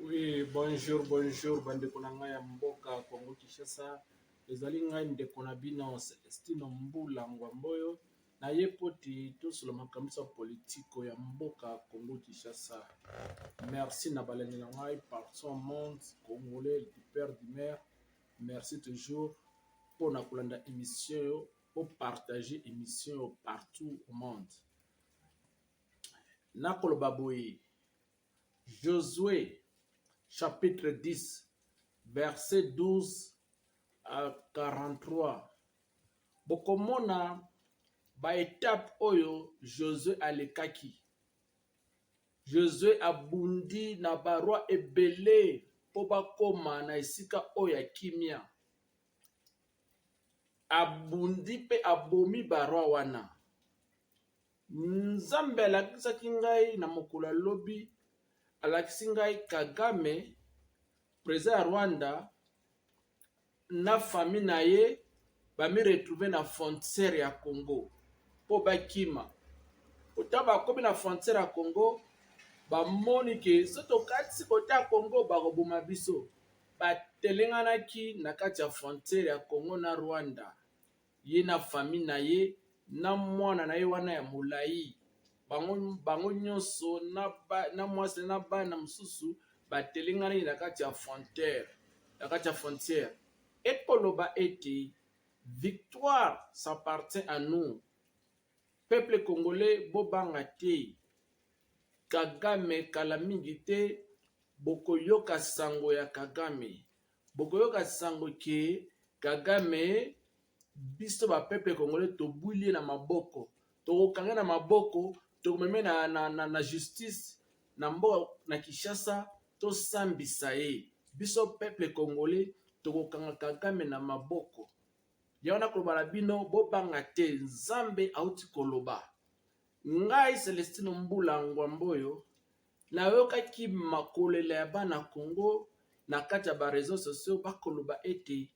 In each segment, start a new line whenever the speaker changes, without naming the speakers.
Oui, bonjour, bonjour, bandeko na ngai ya mboka Congo Kinshasa. Ezali ngai ndeko na bino Celestino Mbula Ngwamboyo. Na ye poti tosolo makambo ya politiko ya mboka Congo Kinshasa. Merci na balandi na ngai partout monde congolais du père du maire. Merci toujours mpo na kolanda émission yo, mpo partager émission yo partout au monde. Nakoloba boye Josue chapitre 10 verset 12 à 43 bokomona baetape oyo Josue alekaki. Josue abundi na barwa ebele mpo bakoma na esika oyo ya kimia. Abundi mpe abomi barwa wana. Nzambe alakisaki ngai na mokolo ya lobi, alakisi ngai Kagame, president ya Rwanda, na famille na ye bami retrouve na frontière ya Congo mpo bakima. Kota bakomi na frontière ya Congo, bamoni ke so tokatisi kota ya Congo bakoboma biso, batelenganaki na kati ya frontière ya Congo na Rwanda. ye na famille na ye na mwana na ye wana ya molai bango, bango nyonso na, ba, na mwasi na bana mosusu batelenganaki na kati ya frontière na kati ya frontière ekoloba ete victoire s'appartient à nous peuple congolais bobanga te kagame kala mingi te bokoyoka sango ya kagame Bokoyoka sango que kagame biso ba peuple congolais tobwili ye na maboko tokokange na maboko tokomeme na, na, na, na justice na mboka na kinshasa tosambisa ye biso peuple congolais tokokanga kagame na maboko yango nakoloba na bino bobanga te nzambe auti koloba ngai celestino mbula ngwamboyo Nayokaki makolela ya bana Congo na kati ya ba reseaux sociaux bakoloba ete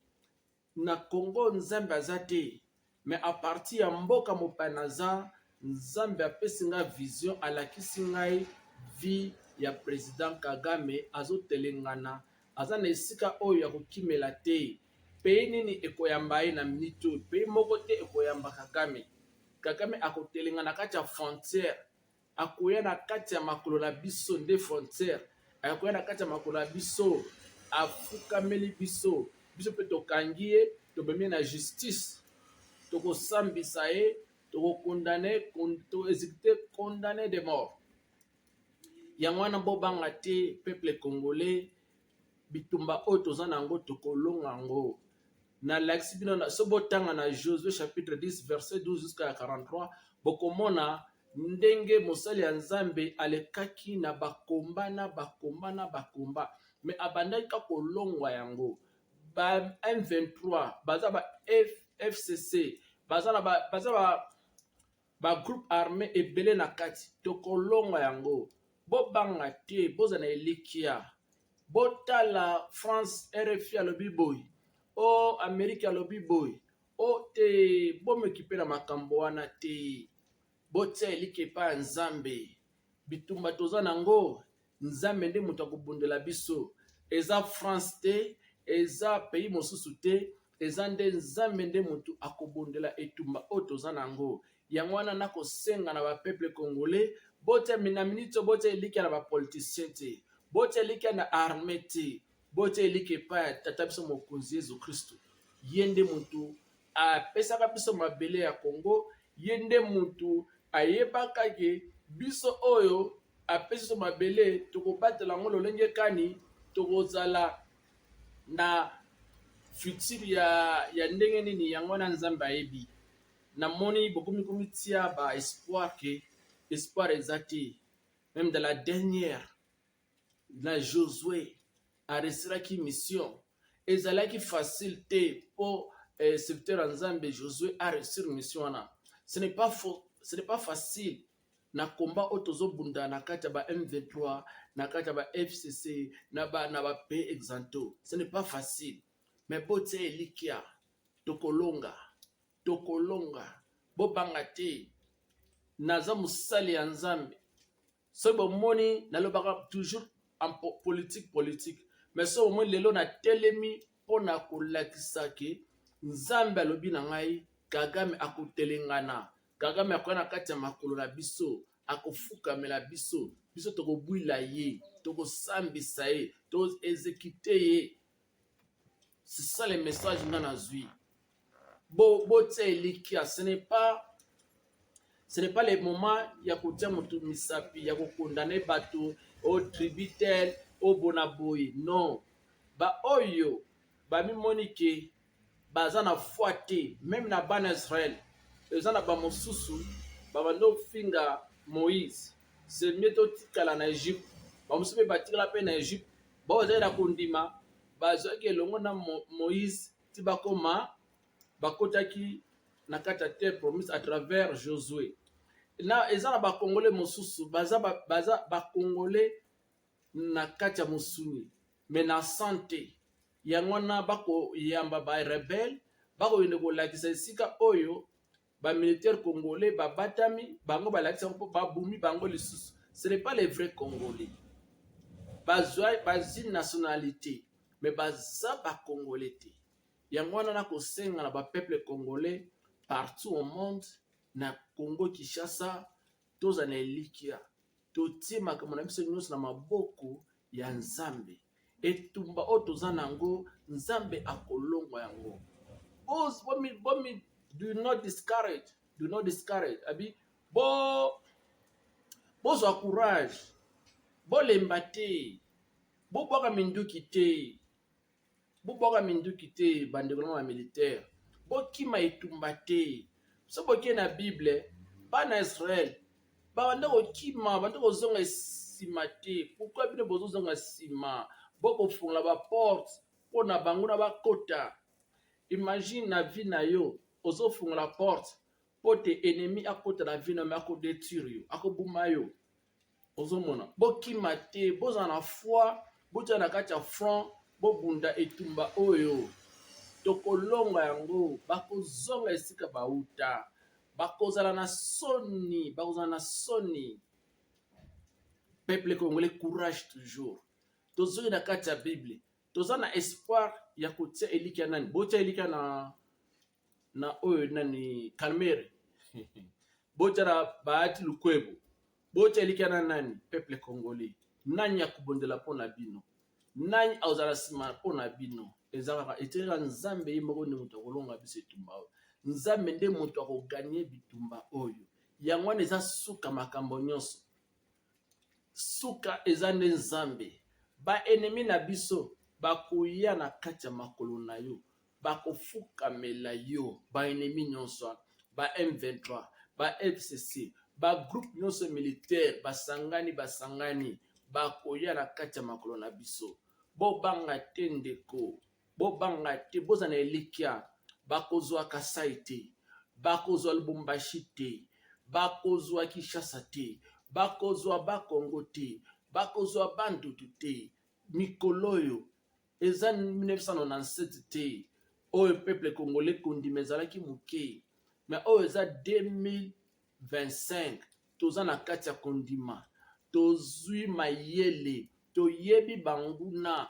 na Congo Nzambe aza te mais à partir ya mboka mopaya naza Nzambe apesi nga vision alakisi ngai vie ya president Kagame azotelengana aza na esika oyo ya kokimela te pays nini ekoyamba ye na minute oyo pays moko te ekoyamba Kagame Kagame akotelengana kati ya frontière Akoya na kati ya makolo na biso nde frontière. Akoya na kati ya makolo na biso, afukameli biso. Biso mpe tokangi ye, tobemi na justice. Tokosambisa ye, tokokondane, toexekute condamne de mort. Yango wana bobanga te peuple congolais. bitumba oyo toza na yango tokolonga yango nalakisi bino na so botanga na josue chapitre 10 verset 12 jusqu'à 43 bokomona ndenge mosali ya nzambe alekaki na bakomba na bakomba na bakomba me abandaki ka kolongwa yango ba m23 baza ba F, fcc baza na ba, baza ba ba groupe arme ebele na kati tokolonga yango bobanga te bozala na elikia botala france rfi alobi boye o oh, amerike alobi boye o oh, te bomekipe na makambo wana te botia eliki epai ya nzambe bitumba toza na yango Nzambe nde moto akobundela biso. Eza France te, eza pays mosusu te, eza nde Nzambe nde moto akobundela etumba oyo toza na yango. Yango wana nakosenga na ba peuple congolais botia na minute oyo botia elikya na ba politiciens te, botia elikya na armée te, botia elikya epai ya tata biso mokonzi Yesu Kristo. Ye nde moto apesaka biso mabele ya Congo, ye nde moto ayebaka ke biso oyo apesi biso mabele tokobatela yango lolenge kani tokozala na futur ya, ya ndenge nini yango wana nzambe ayebi namoni bokomi komitia ba espoir ke espoir eza te meme dans la dernière na josue aresilaki mission ezalaki facile te mpo eh, serviteur ya nzambe josue aresir mission wana ce n'est pas, ce n'est pas facile na combat oyo tozobunda na kati ya ba M23 na kati ya ba FCC na ba na ba pays exanto ce n'est pas facile mais botia elikia tokolonga tokolonga bobanga te naza mosali ya nzambe soki bomoni nalobaka toujours en politique politique mais soki bomoni lelo natelemi mpo na kolakisa ke nzambe alobi na ngai kagame akotelengana Kagame akoya na kati ya makolo na biso, akofukamela biso, biso tokobwila ye, tokosambisa ye, toexekite ye. C'est ça le message nga nazwi. Bo botia elikia, ce n'est pas ce n'est pas le moment ya kotia moto misapi ya kokondane bato o tributel o bona boye non baoyo bamimoni ke baza na foi te meme na bana Israël eza na ba mosusu babanda ofinga Moïse c'est mieux totikala na Egypte ba mosusu mpe batikala mpe na Egypte bao bazali na kondima bazwaki elongo na Moïse ti bakoma bakotaki na kati ya terre promise à travers Josué na eza na bakongole mosusu baza bakongole ba na kati ya mosuni me na san te yango wana bakoyamba barebele bakokende kolakisa esika oyo bamilitaire congolais babatami bango balakisa yango mpo babumi bango lisusu ce n'est pas les vrais congolais bazwa bazwi nationalité me baza bacongolais te yango wana na kosenga na bapeuple congolais partout au monde na congo kinshasa tozala na elikya Totie makambo na biso nyonso na maboko ya Nzambe. Etumba oyo toza na yango, Nzambe akolongwa yango. Bomi, bomi, do not discourage, do not discourage. Abi, bo, bozwa courage, bolemba te, bobwaka minduki te. Bobwaka minduki te bandeko na ba militaire, bokima etumba te. So boke na Bible, bana Israel babanda kokima, babanda kozonga nsima te. Pourquoi bino bozozonga nsima? Bokofungola ba porte mpo na bango na bakota. Imagine na vie na yo ozofungola porte mpo te ennemi akota na vie na yo, akobetire yo, akobuma yo. ozomona bokima te bozala na foi botya na kati ya front bobunda etumba oyo tokolonga yango bakozonga esika bauta bakozala na soni bakozala na soni peuple congolais courage toujours tozoki na kati ya bible toza na espoir ya kotia elikya nani botia elikya na na oyo nani kalmere botya na baati lukwebo botya elikya na nani peuple congolais nani akobondela mpo na bino nani akozala nsima mpo na bino eza kaka etikaka nzambe ye moko nde moto akolonga biso etumba oyo nzambe nde moto akoganye bitumba oyo yango wana eza suka makambo nyonso Suka eza nde Nzambe. Ba ennemis na biso bakoya na kati ya makolo na yo, bakofukamela yo. Ba ennemis nyonso wana, ba M23, ba FCC, ba groupes nyonso militaire basangani basangani bakoya na kati ya makolo na biso. Bobanga te ndeko. Bobanga te, bozala na elikya, bakozwa Kasai te, bakozwa Lubumbashi te, bakozwa Kinshasa te, bakozwa Bakongo te, bakozwa Bandutu te. Mikolo oyo eza 1997 te, oyo peuple congolais kondima ezalaki moke, mais oyo eza 2025 toza na kati ya kondima tozwi mayele toyebi banguna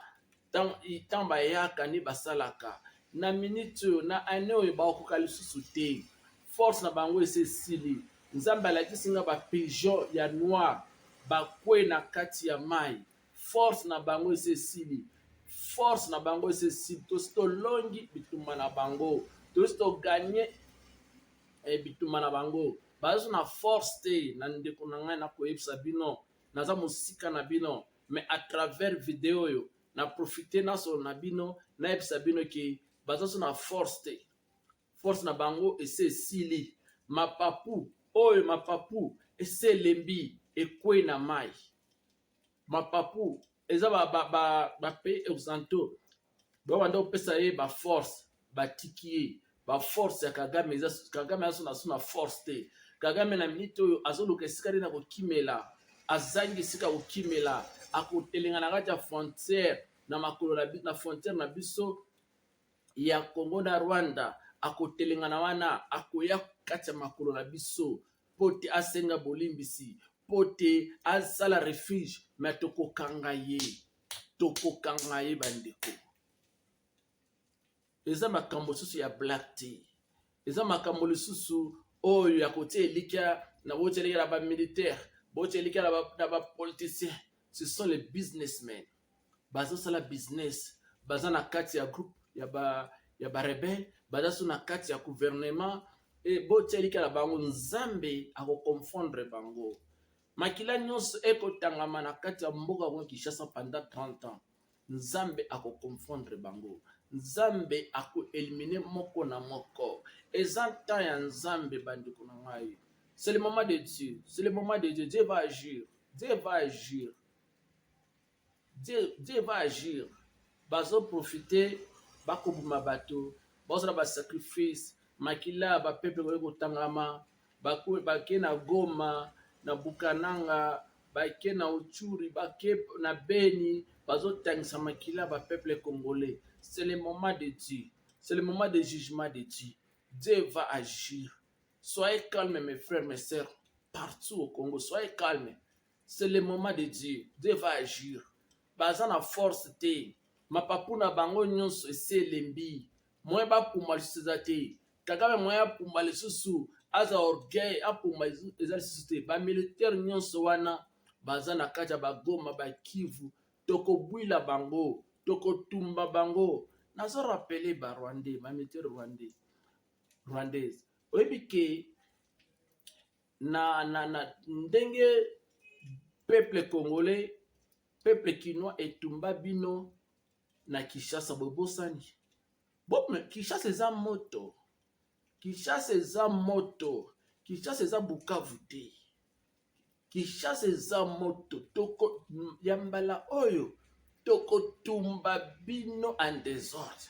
ntango bayaka nde basalaka na miniti oyo na ane oyo bakokoka lisusu te force na bango esi esili nzambe alakisi nga bapigeon ya noir bakwe na kati ya mai force na bango esi esili force na bango esi esili tosi tolongi bitumba na bango tosi toganye eh, bitumba na bango baza na force te na ndeko na ngai nakoyebisa bino naza mosika na bino mais à travers video oyo na profite nasolo na bino nayebisa bino ke baza so na force te force na bango ese esili mapapu oyo mapapu ese elembi ekwei na mai mapapu eza ba ba ba, ba pays occidentaux ba banda kopesa ye ba force batiki ye ba force ya Kagame eza Kagame aso na suna force te Kagame na minute oyo azoluka esika nde na kokimela azangi esika kokimela akotelenga na kati ya frontière na makolo na, na frontière na biso ya Congo na Rwanda akotelengana wana akoya kati ya makolo na biso mpo te asenga bolimbisi mpo te asala refuge me tokokanga ye tokokanga ye bandeko eza makambo lisusu ya black te eza makambo lisusu oyo ya kotia elikya na botia elikya na bamilitaire botia elikya na bapoliticien ce sont les businessmen bazo sala business baza na kati ya groupe ya ba ya ba rebelle baza so na kati ya gouvernement e botia likala bango nzambe akoconfondre bango makila nyonso ekotangama na kati ya mboka yango kinshasa pendant 30 ans nzambe akoconfondre bango nzambe akoelimine moko na moko eza temps ya nzambe bandeko na ngai c'est le moment de dieu c'est le moment de dieu dieu va agir dieu va agir Dieu, Dieu va agir. Bazo profiter, bakoboma bato, bazala ba sacrifice, makila ba peuple koki kotangama, bake na Goma, na Bukananga, bake na Utshuri, bake na Beni, bazo tangisa makila ba peuple congolais. C'est le moment de Dieu. C'est le moment de jugement de Dieu. Dieu va agir. Soyez calme mes frères, mes sœurs, partout au Congo. Soyez calme. c'est le moment de dieu dieu va agir baza na force te mapapu na bango nyonso esi elembi moye bapuma lisusu eza te kagame moye apuma lisusu aza orgueil apuma eza lisusu te bamilitaire nyonso wana baza na kati ya bagoma bakivu tokobwila bango tokotumba bango nazo rapele ba rwandais mamilitaire rwandais rwandaise oyebi ke na, na, na ndenge peuple congolais peuple kinois etumba bino na Kinshasa bobosani bo Kinshasa eza moto Kinshasa eza moto Kinshasa eza Bukavu te Kinshasa eza moto toko ya mbala oyo tokotumba bino en desordre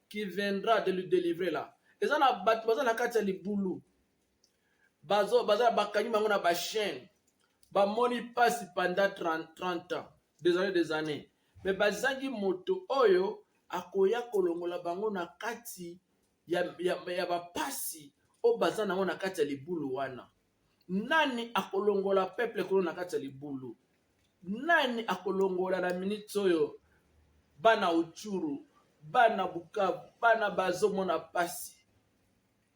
qui viendra de le delivrer là eza na bato baza na kati ya libulu bazo baza bakangi bango na ba chaîne bamoni pasi pendant 30, 30 ans des années des années mais bazangi moto oyo akoya kolongola bango na kati ya, ya, ya bapasi oyo baza nango na kati ya libulu wana nani akolongola peuple kuna na kati ya libulu nani akolongola na minute oyo bana uchuru bana bukavu bana bazomona pasi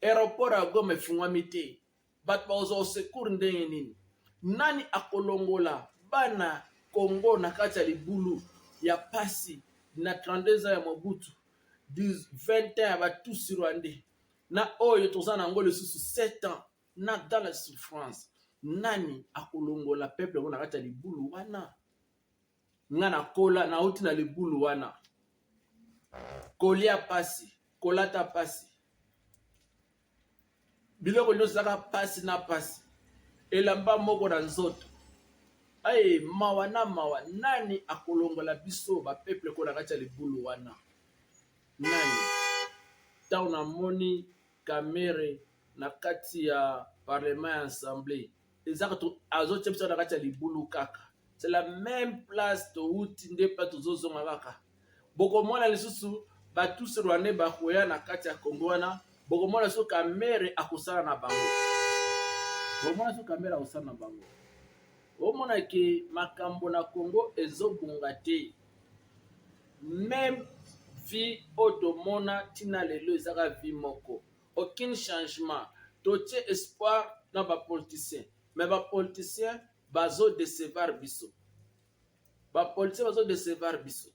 aeroport ya goma efungwami te bato bakozwa osecour ndenge nini nani akolongola bana congo na kati ya libulu ya pasi na 32 ans ya mobutu 20 ans ya batusi rwandais na oyo toza na yango lisusu 7 ans na dans la souffrance nani akolongola peuple yango na kati ya libulu wana nga nakola nauti na libulu wana kolia pasi kolata pasi biloko nyonso ezaka pasi na pasi elamba moko na nzoto aye mawa na mawa nani akolongola biso bapeuple ko na kati ya libulu wana nani ntango namoni Kamere na kati ya parlement ya ensemble eza azotia biso na kati ya libulu kaka c'est la même place towuti nde pa tozozonga kaka bokomona lisusu batuse rwandais bakoya na kati ya kongo wana bokomona so kamere akosala na bango bokomona so kamere akosala na bango omona ke makambo na kongo ezobonga te meme vie oyo tomona tina lelo ezaka vie moko aucune changement totie espoir na ba politicien me ba politicien bazo decevar biso ba politicien bazo decevar biso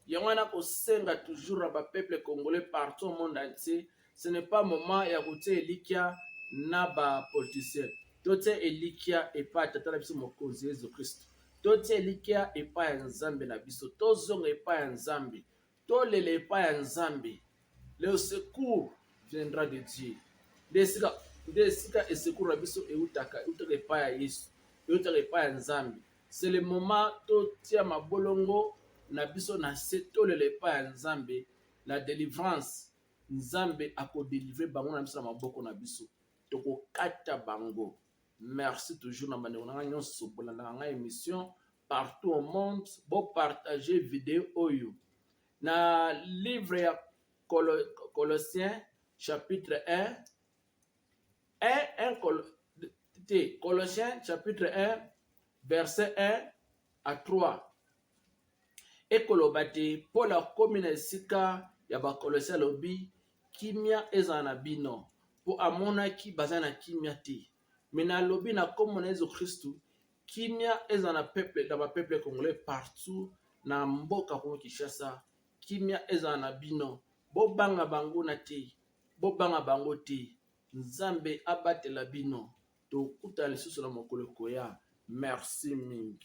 yango wana kosenga toujours na ba peuple congolais partout au monde entier ce n'est pas moment ya kotia elikya na bapoliticien totia elikya epai ya tata na biso mokonzi yesu kristo totia elikya epai ya nzambe na biso tozonga epai ya nzambe tolela epai ya nzambe le secours viendra de dieu nde esika nde esika esekuru na biso eutaka eutaka epai ya yesu eutaka epai ya nzambe se le moment totia mabolongo na biso na se tolela epai ya nzambe la délivrance nzambe ako delivre bango na biso na maboko na biso tokokata bango merci toujours na bandeko na ngai nyonso bolandaka ngai émission partout au monde bopartage video oyo na livre ya colossien chapitre 1 1 te colossien chapitre 1 verset 1 à 3 ekoloba te Polo akomi na esika ya Bakolose, alobi kimia ezala na bino, mpo amonaki baza na kimia te. Me nalobi na nkombo na Yesu Kristu, kimia ezala na peuple, na ba peuple congolais partout na mboka Congo Kinshasa, kimia ezala na bino, bobanga bango na te, bobanga bango te, Nzambe abatela bino, tokutana lisusu na mokolo ekoya. Merci mingi.